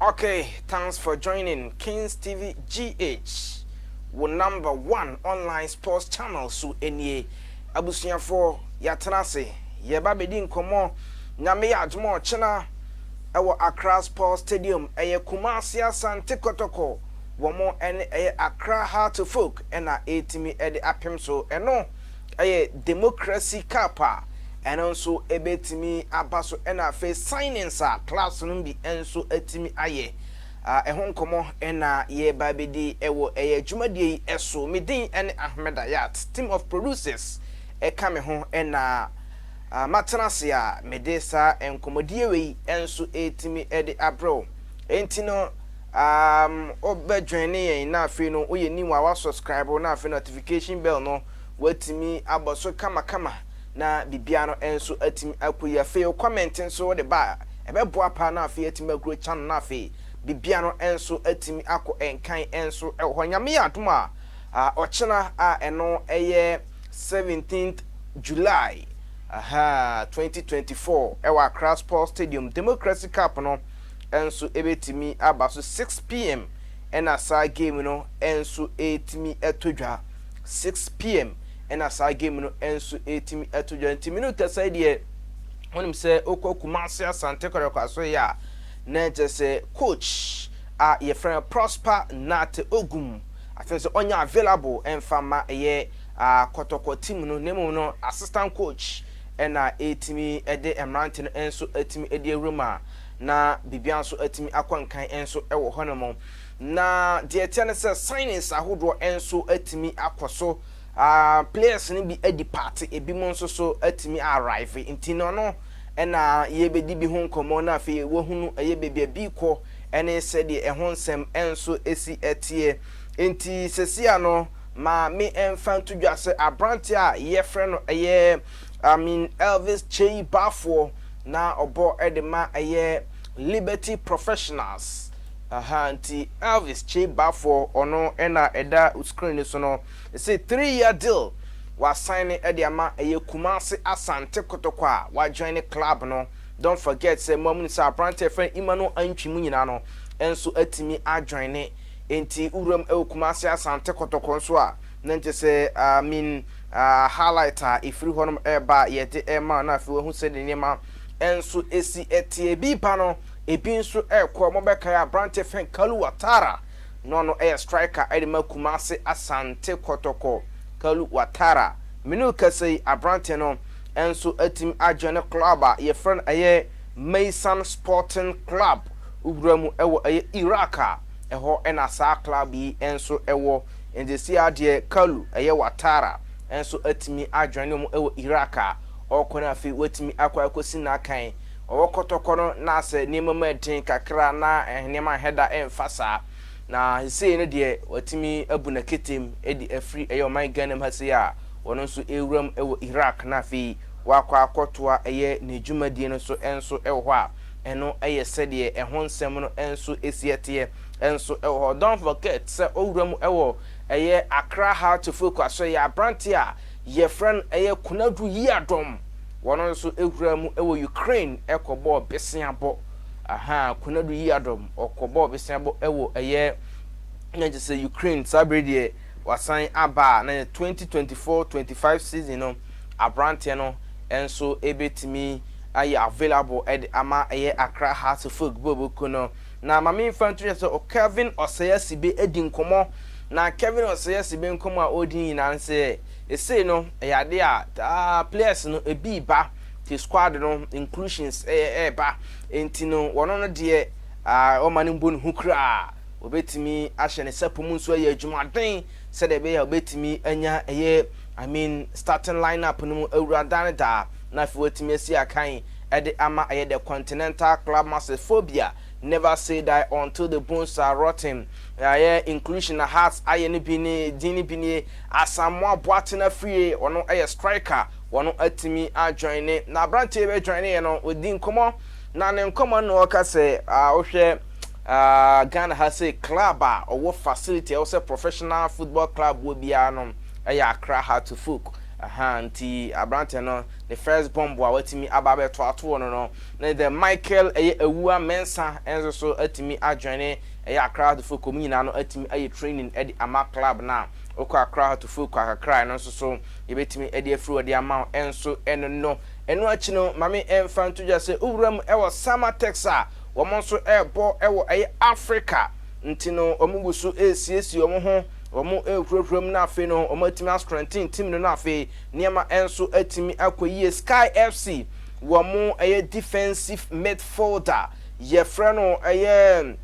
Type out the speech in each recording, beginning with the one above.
Ok thanks for joining kings TV GH wo number one online sports channel so nie abusuafoɔ yɛatena ase yɛreba abɛdi nkɔmmɔ Nyame yɛ adom a ɔkyena ɛwɔ Accra Sports Stadium ɛyɛ Kumasi Asante Kɔtɔkɔ wɔn ɛne ɛyɛ Accra Heart of Oak ɛna ɛretumi ɛde apem so ɛno Ɛyɛ democracy cup a ɛno nso ɛbɛtumi aba so ɛna afei signings a clubs no bi nso atumi ayɛ ɛho nkɔmmɔ ɛna yɛreba bɛdi ɛwɔ ɛyɛ dwumadie yi ɛso. Me din ɛne Ahmed Ayat, team of producers ɛka me ho ɛna matena ase a mede saa nkɔmmɔdie wei nso ɛretumi de abrɛ wo. Ɛnti no um, wobɛ joine yɛn na afei no woyɛ new a wa subscribe na afei notification bell no Woatumi abɔ so kamakama na biribiara no nso atumi akɔ yie. Afei wo comment nso wode ba a, ɛbɛboa paa na afei atumi agrow channel no afei biribiara no nso atumi akɔ nkan nso wɔ hɔ. Nyame yɛ adom a, ɔkyena a ɛno yɛ seventeenth July, aha, twenty twenty four wɔ Accra Sports Stadium, Democracy Cup no nso ɛbɛtumi aba so, six pm na saa game no nso ɛretumi to dwa. six pm ɛna saa game no nso ɛtumi ɛto dwa nti mene kasa yi deɛ wonim sɛ wokɔ Kumasi Asante Kwarakwaso yɛ a na ɛkyɛ sɛ coach a yɛfrɛ no Prosper Nate Ogum afei sɛ ɔnya available ɛmfa ma ɛyɛ uh, kɔtɔkɔ team no na mmom no assistant coach ɛna ɛtumi ɛde mmerante no nso ɛtumi ɛde awura mu a na biribiara nso ɛtumi akɔ nkan nso ɛwɔ hɔ nom Na deɛ ɛteɛ ne sɛ signs ahodoɔ nso atumi akɔ so. Players no bi adepart, ebinom nso so atumi a arrive. Nti no ɛno na yɛrebɛdi bi ho nkɔmmɔ na afei woahunu ɛyɛ baabi a bi rekɔ ne sɛdeɛ ɛho nsɛm nso si teɛ. Nti sesia no ma me mfa nto dwa sɛ aberanteɛ a yɛfrɛ no ɛyɛ I mean Elvis Kyei Bafoɔ na ɔbɔ de ma ɛyɛ Liberty Professionals Aha nti Elvis kyei ba fɔ ɔno na ɛda screen no so no se three year deal wa sign de ama ɛyɛ Kumasi Asante Kotoko a wa join ne club no don't forget sɛ mo a mo nim sɛ abrante a yɛfrɛ no Emmanuel Antwi mo nyinaa no nso atumi a join ne nti wo wuram ɛwɔ Kumasi Asante Kotoko nso a na nkyɛ sɛ ah mean ah highlight a ɛfiri hɔ nom ɛba a yɛde ɛma na afei wahu sɛ ne nneɛma nso ɛsi ɛteɛ bi ba no Ebi nso rekɔ a wɔbɛkae aberante fã Kalu Watara na ɔno yɛ striker de ma Kumase Asante Kɔtɔkɔ. Kalu Watara, me ne wo kasa yi aberante no nso atumi ajoine club a yɛfrɛ no ɛyɛ Maysan Sporting Club wura mu wɔ ɛyɛ Iraq a ɛhɔ na saa club yi nso wɔ. Enti seesei ara deɛ Kalu, ɛyɛ Watara, nso atumi ajoine wɔn wɔ Iraq a ɔrekɔ no afei watumi akɔ akɔsi n'akan Ɔwɔ kɔtɔkɔ no na sɛ nneɛma mu yɛ den kakra a na nneɛma nhwɛ da mfa saa. Na sesei no deɛ watumi abu n'aketem de afiri ɛyɛ ɔman Ghana mu ha sei a ɔno nso rewura mu wɔ Iraq na afei wakɔ akɔtoa ɛyɛ n'adwumadie no so nso wɔ hɔ a ɛno yɛ sɛdeɛ ɛho nsɛm no nso si ɛteɛ nso wɔ hɔ. Don't forget sɛ ɔwura mu wɔ ɛyɛ Accra Heart of Oak Asoɛeɛ aberanteɛ a yɛfrɛ no ɛyɛ Konadu Yiadom. wɔn nso huraa mu wɔ Ukraine kɔbɔɔ beseabɔ. Aha, Konadu Yiadom, ɔkɔbɔɔ beseabɔ wɔ ɛyɛ na kyerɛ sɛ Ukraine saa bere deɛ wasan aba a na yɛ 2024-25 season no aberanteɛ no nso bɛtumi ayɛ available de ama ɛyɛ Accra Hearts Football Boko no. Na ma memfa nto dwa sɛ Kelvin Osei-Asibe adi nkɔmmɔ na Kelvin Osei-Asibe nkɔmmɔ a ɔredi nyinaa no sɛ Esei no ɛyɛ ade a taa players no ebii ba te squad no inclusions ɛɛba enti no wɔn no deɛ aah wɔma no mbo ne ho kuraa, wɔbetumi ahyɛ ne sapo mu nso ayɛ adwuma den sɛdeɛ ɛbɛyɛ a wɔbetumi anya ɛyɛ I mean starting line up no mu awura daa ne daa na afei wɔatumi asi akan ɛde ama ɛyɛ the continental club masters foɔ bia. Never say die until the bones are rotten Yɛayɛ inclusion na Hearts ayɛ no bi nie Din no bi nie Asamoah Boateng Afriyie Ɔno yɛ striker Ɔno atumi a joine Na aberanteɛ wei joineeɛ no Ɔdi nkɔmmɔ Na ne nkɔmmɔ no na ɔka sɛ ah wohwɛ ah Ghana ha sei Club a ɔwɔ facility a ɛwɔ sɛ professional football club wɔ biara no Ɛyɛ Accra Hearts Folk Ahaa nti aberanteɛ no ne first bomb a watumi aba abɛto atoɔ no no Ne The Michael ɛyɛ awua mɛnsa nso so atumi adjoine ɛyɛ Accra Heart Focal mu nyinaa no atumi ayɛ training ɛde ama club no a wokɔ Accra Heart Focal kakra a ɛno nso so yɛbɛtumi ɛde afiri hɔ de ama wo ɛnso ɛno no ɛno akyi no ma me ɛmfa nto dwa sɛ wowura mu ɛwɔ Samatex a wɔn nso ɛrebɔ ɛwɔ ɛyɛ Africa nti no wɔn gu so ɛresiesie wɔn ho wɔn ɛrehurahura mu no afei no wɔn atumi astrengthen team no no afei nneɛma ɛnso atumi akɔ yie Sky FC Wɔn ɛyɛ defensive midfielder, yɛfrɛ no ɛyɛ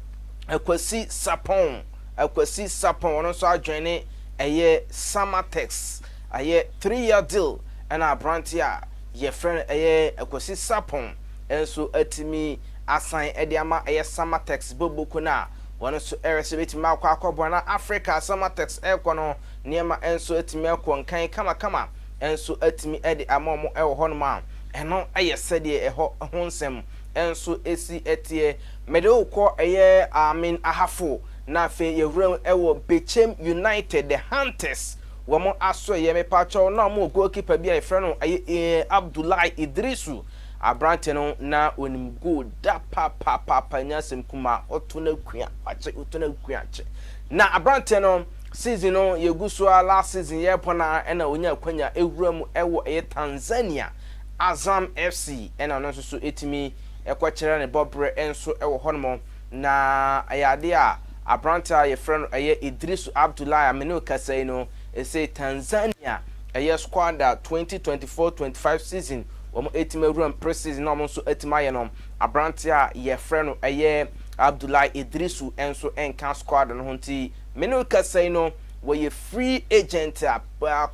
Akwasi Sarpong, Akwasi Sarpong, ɔno nso adjoine ɛyɛ Samatex, ɛyɛ three year deal ɛna aberanteɛ a yɛfrɛ no ɛyɛ Akwasi Sarpong nso atumi asan de ama ɛyɛ Samatex Boboku no a wɔn nso ɛrehwɛ sɛ ɛbɛtumi akɔ akɔboa na Africa a Samatex ɛrekɔ no nneɛma nso atumi akɔ nkan kamakama. nso atumi de ama wɔn wɔ hɔnom a, ɛno yɛ sɛdeɛ ɛhɔ ho nsɛm nso si teɛ. Mede wo kɔ ɛyɛ Amin Ahafo, na afei yɛwuram wɔ Bechem United, The Hunters wɔn asoɛeɛ. Mepaakyɛw, na wɔwɔ goalkeeper bi a yɛfrɛ no ɛyɛ Abdullahi Idrisu. Aberanteɛ no, na ɔnim goal da papaapa, ɛnyɛ asɛm kumaa, ɔto no akuakyɛ, ɔto no akuakyɛ. Na aberanteɛ no. Season no yɛgu so ara last season yɛrepɔn ara ɛna ɔnya akwanya ɛwura mu ɛwɔ ɛyɛ Tanzania Azam FC ɛna ɔno nso so ɛtumi ɛkɔ kyerɛ ne bɔ berɛ nso ɛwɔ hɔ nom na ɛyɛ adeɛ a aberanteɛ a yɛfrɛ no ɛyɛ Idrisu Abdullahi a me ne wo kasa yi no ɛsei Tanzania ɛyɛ squad a 2024-25 season wɔn ɛtumi awura mu pre season na wɔn nso ɛtumi ayɛ no aberanteɛ a yɛfrɛ no ɛyɛ Abdullahi Idrisu ɛnso ɛnka squad no ho nti Me ne wo kasa yi no, wɔyɛ free agent a,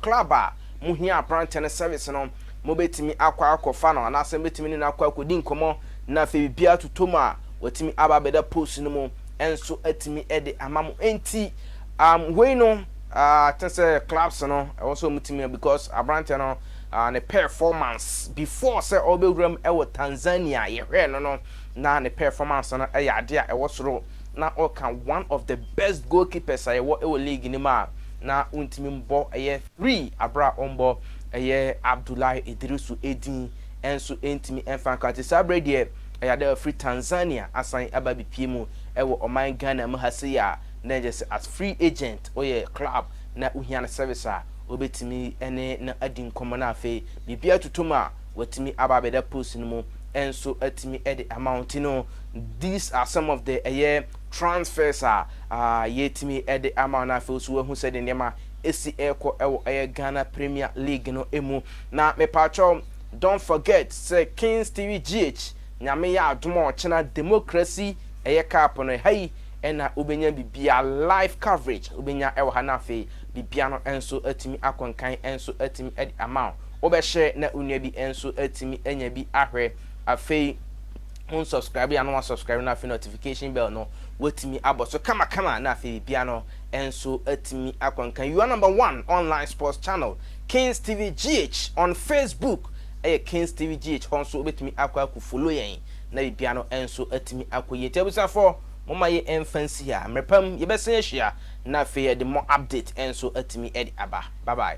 club a mohia aberanteɛ no service no, mobɛtumi akɔ akɔfa no anaasɛ mobɛtumi ne no akɔ akɔdi nkɔmmɔ na afei biribiara atotɔ mu a, watumi aba abɛda post no mu nso atumi de ama mo. Enti um, wei no uh, te sɛ clubs no ɛwɔ sɛ wɔtumi because aberanteɛ no uh, ne performance before sɛ ɔbɛwura mu ɛwɔ Tanzania yɛhwɛɛ no no na ne performance no ɛyɛ adeɛ a ɛwɔ soro. na ɔka one of the best goalkeepers a yɛwɔ wɔ league no mu a na wontumi mbɔ ɛyɛ three aber a ɔmbɔ ɛyɛ Abdullahi Idrisu edin nso nntumi mfa nka ntsi saa aber yi deɛ ɛyɛ adɛ ɔfir Tanzania asan aba abepue mu wɔ ɔman Ghana mu ha sei a na ɛkyerɛ sɛ as free agent ɔyɛ club na wohia ne service a obetumi ne no adi nkɔmbɔ na afei biribiara totɔ mu a Watumi aba abɛda post no mu nso atumi de ama wo nti no these are some of the ɛyɛ transfers a ah, yɛtumi de ama wo na afei nso wahu sɛ de nneɛma ɛsi ɛrekɔ ɛwɔ ɛyɛ Ghana Premier League no mu na mepaakyɛw don't forget sɛ Kings TV GH nyame yɛ adom a ɔkyena democracy ɛyɛ cup no ɛha yi ɛna wobɛnya bibia live coverage wobɛnya ɛwɔ ha na afei bibia no nso atumi akɔnkan nso atumi de ama wo Wobɛhyɛ na wo nua bi nso atumi anya bi ahwɛ. Afei wo nsɔskraibe a na wasɔskraibe no afei notification bell no watumi abɔ so kamakama na afei biribiara no nso atumi akɔ nkan. You are number one online sports channel Kings TV GH on Facebook ɛyɛ Kings TV GH hɔ nso wobɛtumi akɔ akɔ follow yɛn na biribiara no nso atumi akɔ yie. Nti abusuafoɔ momma yɛ mfa nsi ha mmerɛ pa mu yɛbɛsan ahyia na afei yɛde more update nso atumi ɛde aba. Bye bye.